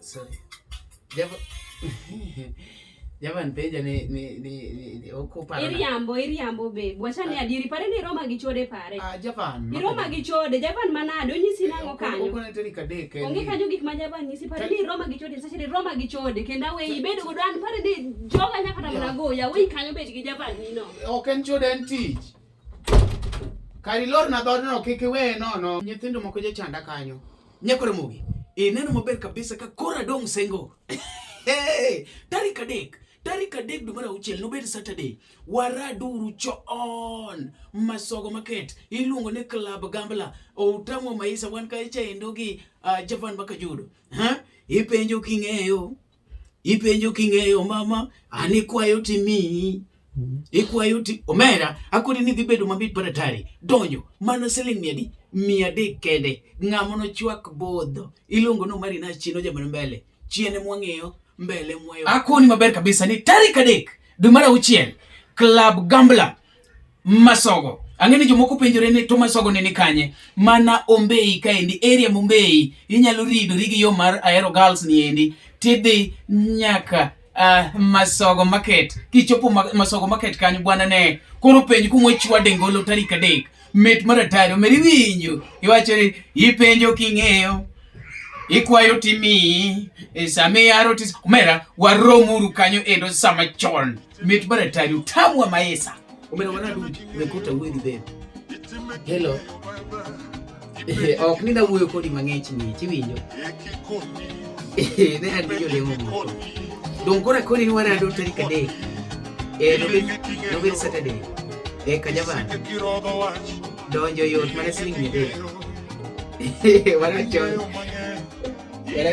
Sorry. Java Java nipeja ni ni ni, ni okupa. Iriambo iriambo be. Bwacha ni ah. adiri pare ni Roma gi chode pare. Ah Java. Ni Roma gi chode Java manade onyisi nango eh, kanyo. Uko neteri kadeke. Onge kanyo gik ma Java nyisi pare ni Roma gi chode sasa ni Roma gi chode kenda we ibedo go dan pare ni joga nyaka tamana go ya we kanyo be gi Java ni no. Ok en chode en tich. Kari lor na dhodno kik iwe nono. Nyithindo moko je chanda kanyo. Nyako Ramogi, ineno e maber kabisa ka koro adong' sengo. Hey, tarik adek tarik adek dwe mar auchiel nobed Saturday. Waraduru choon masogo market iluongo ni Club Gambla outamo maisa wan kacha endo gi uh, Javan Bakajudo. Ha? Ipenjo king'eyo. Ipenjo king'eyo mama, an ikwayo timiyi. Mm-hmm. Ikwayo ti omera akoni ni dhi bedo mabit mar atari donjo mana siling mia adi mia adek kende ng'amo nochwak bodho iluongo no mari na chino jamano mbele chiene mwang'eyo mbele mwayo akoni maber kabisa ni tarik adek dwe mar auchiel club gambler Masogo. Ang'e ni jomoko penjore ni to Masogo ne ni kanye? Mana Ombei kaendi, area Mombei. Inyalo ridori gi yo mar Ahero Girls ni endi. Tidhi nyaka uh, Masogo Market. Kichopo ma, Masogo Market kanyo bwana ne. Koro penj kuma chwa dengolo tarik adek. Met mar atari omeri winjo. Iwacho ni ipenjo king'eyo. Ikwayo timi. E, sami yaro tis. Omera waromuru kanyo endo sama chon. Mit bana tari utamu wa maesa. Umena wana du umekuta uwe ni bebe. Hello. Eh, ok ni da wuoyo kodi mang'ich ni chiwinjo. Eh, ne an jo lemo mo. Don kora kodi ni wana do tarik adek. Eh, no be no be Saturday. Eh, kajaban. Donjo yot mana siling mia adek. Eh, wana chon. Wana